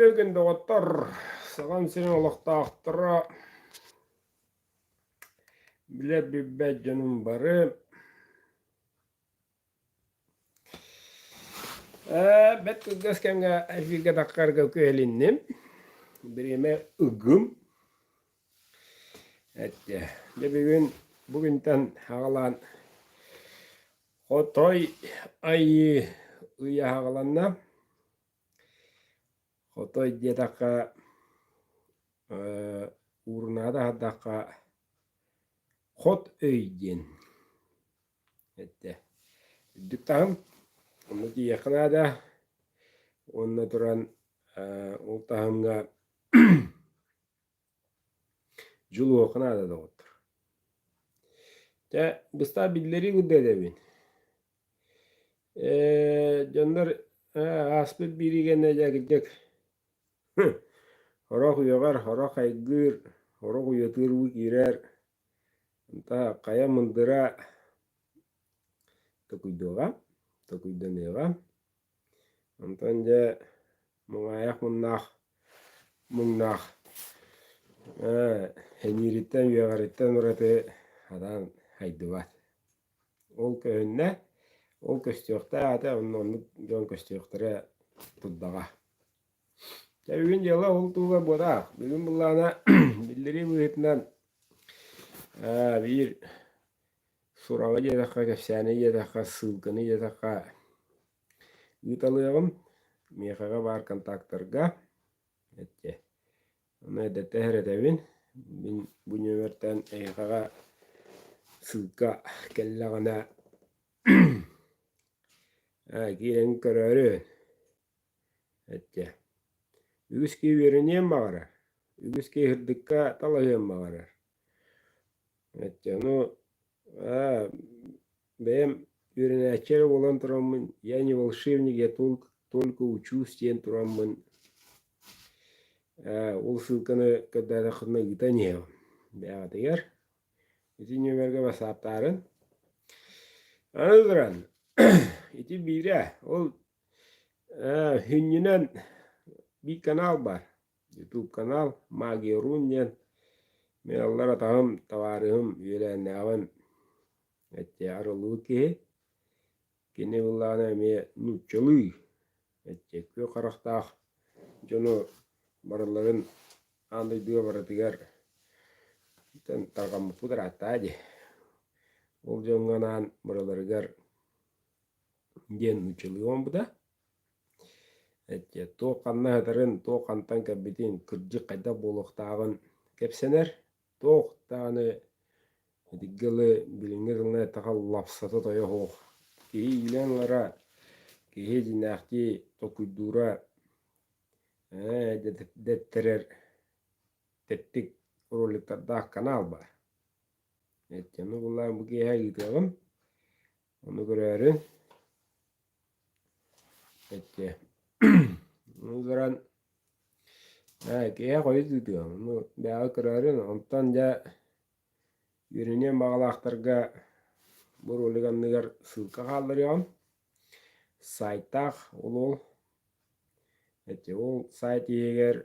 Күргэн доҕоттор, саҕан сирин олохтоохторо, билэ билбэт дьонум бары. Бэт кылгас кэмҥэ эфирге таққарга кыһэлинним. Бириэмэ ыгым. Этте. Дэ бүгүн бүгүнтэн хагалаан хотой айыы ыйа хагаланна. Хотой диэтэххэ ээ уурунаада аһардахха хот өй диэн этэ. Үрдүк таһым онно тиийиэххэ наада уонна туран ээ ол таһымга Дьыл уохха наада доҕоттор. Чэ, быстаах биллэриин курдук этэбин. Э, дьоннор э, ааспыт бииригэнэ дьэкирдик Орох үйөҕөр, орох хайгыыр, орох уйатыыр уу киирэр. Та хайа мындыра токуйдуоҕа, токуйданыаҕа. Онтон дьэ Муҥаайах муннаах муҥнаах ээ эниириттэн үөҕэриттэн ураты хатаан хайдыбат ол көһүннэ ол көстүөхтээх аата онно оннук дьон көстүөхтэрэ турдаҕа дьэ бүгүн дьыала ол туһугар буолаа бүгүн былаана биллэрии быһыытынан ээ биир Сураҕы диэтэххэ, кэпсээни диэтэххэ, ссылканы диэтэххэ ыыталыаҕым. Миэхэҕэ баар контактарга эттэ. Ону эрдэттэн эрэтэбин. Мин бу нүөмэртэн эйиэхэҕэ ссылка кэллэҕинэ киирэн көрөөрү эттэ. Үгүскүү үөрэниэн баҕарар, үгүскүү ыһырдыкка талаһыан баҕарар. Дьону аа бэйэм үөрэнээччилэрэ буолан тураммын «Я не волшебник, я только учусь» диэн тураммын ээ ол ссылканы көрдөөтөххүтүнэ ыытан иһиэм бэйэҕитигэр ити нүөмэргэ васааптаарын аны туран ити биирэ ол ээ сүнньүнэн биир канал бар YouTube канал Магия Рун диэн мин аллар атаһым, табаарыһым үөлээннээҕим этте арыллыбыт киһи. Кини былаана эмиэ нууччалыы этте күө харахтаах дьону барыларын аан дойдуга барытыгар итин тарҕаммыппыт ырааттаа дии. Ол дьоҥҥо анаан барыларыгар диэн нууччалыы оҥорбута. туох ханна ыһытарын, туох хантан кэлбитин, кырдьык хайдах буолуохтааҕын кэпсэнэр. Туох даҕаны итинки тылы билиҥҥи тылынан эттэхэ лапсата тойо суох. Киһи иилэн ылара, киһи дьиҥнээхтии толкуйдуура, дэттэрэр тэттик роликтардаах канал баар. Ити ону булан бу киэһэ ыытыаҕым. Ону көрөөрү эчи ну баран киһи хойут ыытыа ону бэйэҕэ көрөөрү онтон дьэ үөрэниэн баҕалаахтарга бу ролик анныгар ссылка хаалларыаҕым сайтаах ол ол эчи ол сайт иһигэр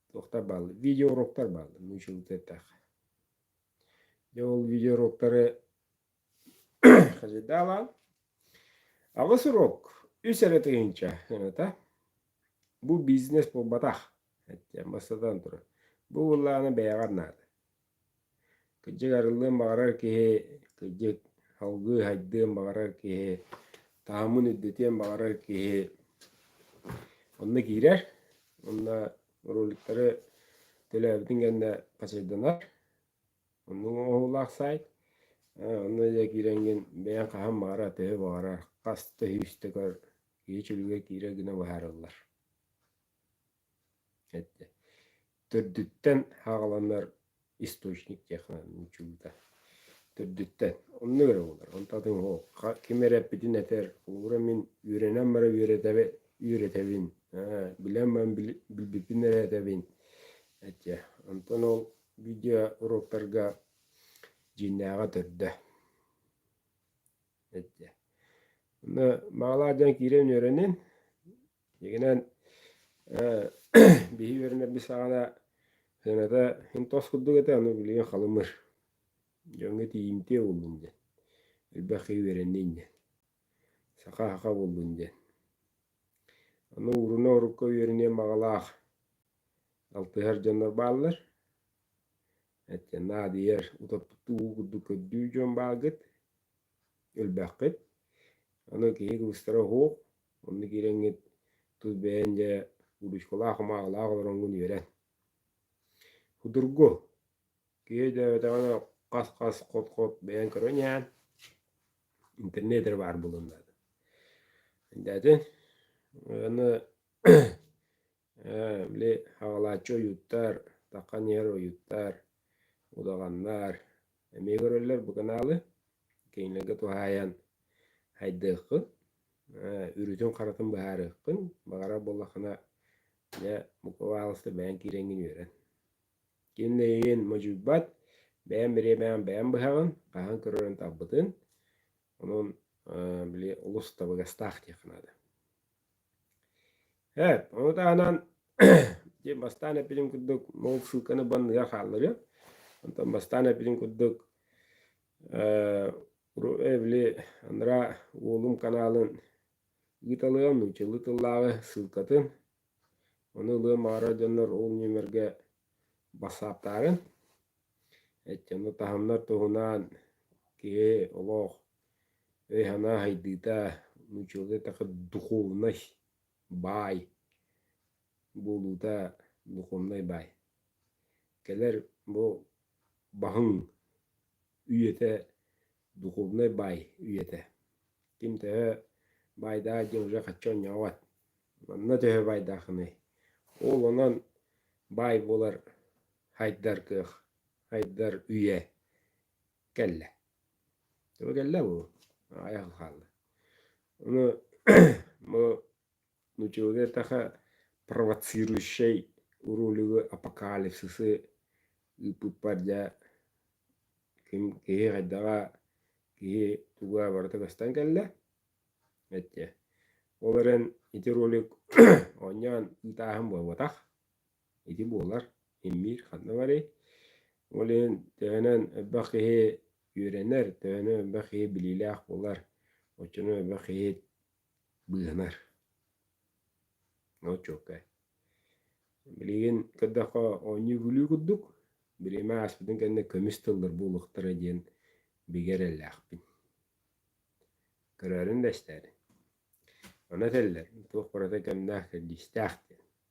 туохтар бааллар видеоуроктар бааллар нуучча тылыттан эттэххэ дьэ ол видеоуроктары Хадьыдаалаан аҕыс уруок үс эрэ тыһыынча гыната бу бизнес буолбатах эттиэн бастатан туран бу былааны бэйэҕэр наада кырдьык арыллыан баҕарар киһи кырдьык салгыы сайдыан баҕарар киһи таһымын үрдэтиэн баҕарар киһи онно киирэр онно роликтары төлөөбүтүн кэннэ посчетданар Онно оҥоһуулаах саайт. Онно дьэ киирэҥҥин бэйэҥ хаһан баҕара төһө баҕарар хас да сүүс төгөл киһи чөлүгэр киирэ гына быһаарыллар. Эттэ. Төрдүттэн хааланар источник диэххэ нууччулуута. Төрдүттэн. Онно эрэ буолар. Онтон ол ким эрэ эппитин этэр, холобура мин үөрэнэн баран үөрэтэбин, үөрэтэбин. Билэн баран билбиппин эрэ этэбин. Эттэ. Онтон ол видеоуруоктарга дьииннээҕэ төрдө. Маалаа дьон киирэн үөрэнин, дигинэн биһи үөрэнэрбит саҕана сыаната хин тос курдук этэ, аны билигин халымыр. Дьоҥҥо тиийимтиэ буллун диэн. Элбэххэ үөрэннин диэн. Саха хаха буллун диэн. Аны уруна урукка үөрэниэн маҕалаах алтыһар дьоннор бааллар эттэн наадыйар утоппуту уу курдук көрдүү дьон баалгыт өлбөххүт аны киһи кылыстара оһуох онно киирэҥҥит тус бэйэн дьэ уруучкалаах омаалаах олороҥҥун үөрэн худургу киһи дөөтөҕүнэ хас хас хот хот бэйэн көрөн иһэн интернет эрэ баар буолуон наада дээтин аны Ээ, били хаҕалааччы ойууттар, таххан иһэр ойууттар, удаҕаннар эмиэ көрөллөр бу канаалы. Кинилэргэ туһаайан хайдыаххын, э, үрүтүн-харатын быһаарыаххын. Баҕарар буоллаххына, дьэ, бука баҕаласта бэйэҥ киирэҥҥин үөрэн. Кинилэрин модьуйбат, бэйэм бириэмэҕин бэйэм быһаҕын, хаһан көрөрүн талбытын. Онон, э, били олус табыгастаах диэххэ наада. Эт, ол таһынан дьэ бастаан эппитим курдук ол ссылканы банныга хаалларыа. Онтон бастаан эппитим курдук э, эбили анараа уолум канаалын ыыталыам, нууччалыы тыллааҕы ссылкатын. Ону ылыам аҕара дьоннор ол нүөмэргэ бассааптаарын. Эчэми таһымнар туһунан киһи олох өй-санаа сайдыыта нууччалыы такы духовнай баай буолуута духовнай баай. Кэлэр бу баһыҥ үйэтэ духовнай баай үйэтэ. Ким төһө баайдаа дьэ уже хачча онньоҕот. Манна төһө баайдаахыный? Ол онон баай буолар хайдар кыах, хайдар үйэ кэллэ. Төбө кэллэ бу. Айах хаалла. Ону бу Нутеллетаха провоцирующай уруулүгү апокалипсисы ыыппыппар дьэ ким киһи хайдаҕа киһи туга барыта көстөн кэллэ эттиэ ол эрэн ити ролик оонньоон ыытааһын буолбатах ити буолар иммиир ханна барый ол иһин төһөнөн элбэх киһи үөрэнэр төһөнөн элбэх киһи билиилээх буолар оччону элбэх киһи быыһанар. Ну, чуоккай. Билигин көрдөххө оонньуу-күлүү курдук, бириэмэ ааспытын кэннэ көмүс тыллар буолуохтара диэн бигэ эрэллээхпин. Көрөөрүн да истээри. Аны этэллэр, туох барыта кэмнээх, кэрдиистээх диэн.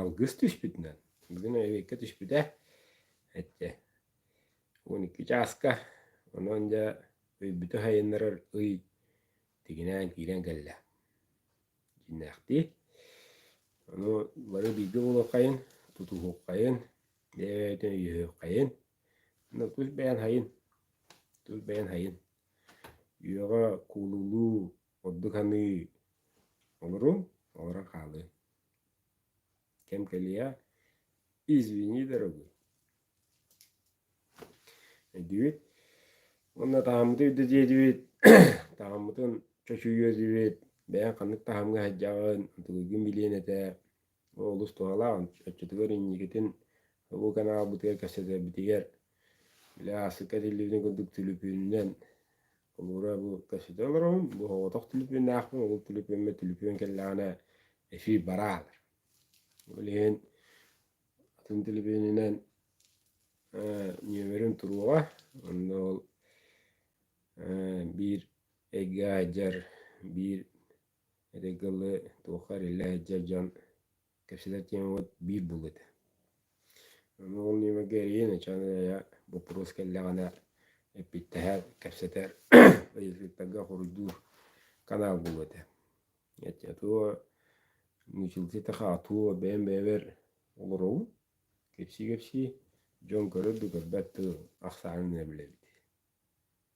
Алгыс түспүтүнэн бүгүн өйбүккэ түспүтэ эттэ уон икки чааска онон дьэ өйбүтэ сайыннарар ый тигинээн киирэн кэллэ дьиҥнээхтии ону бары бииргэ буолуоххайын тутуһуоххайын бэйэбитин өйөһүөххэйин аны тус бэйэн сайын тус бэйэн сайын үйэҕэ куулулуу Ордук аныы олоруҥ, олорон хаалыҥ. Кэм кэлиэ. Извини, дорогой. Өйдүбүт. Уонна тааммыты өйдө диэдибит. Тааммытын чочуйуо диэбит. Бэйэҥ ханнык таамга сылдьаҕын, ытылыгын билиэн этэ. Олус туһалаах. Оччотугар инникитин бу канаалбытыгар кэпсэтэрбитигэр Били ааспыкка телевидение курдук түлүпүөнүнэн холуура бу кэпсэтэ олоробун. Бу оҕотох түлүпүөннэөхпүн, омук түлүпүөммэ түлүпүөн кэллэҕинэ эфир бараалар. Ол иһин атын түлүпүөнүнэн э, нүөмэрим туруоҕа. Онно ол э, биир эйгэ айдьар, биир Этэй кылы туохха эриллэ иһдьэ дьон кэпсэтэр тиэмэбит биир буллут. Аны ол нүөмэргэ эрийэн ачаан ыйа боппуруос кэллэҕинэ эппиттэһэр, кэпсэтэр, ыйытыктарга хоруйдуур канаал буллут этэ. Аттуо мучилката-ха аттуо бэйэм бэйэбэр олоробун кэпсии-кэпсии дьон көрөр да көрбөт да ахсаанын эрэ билэбит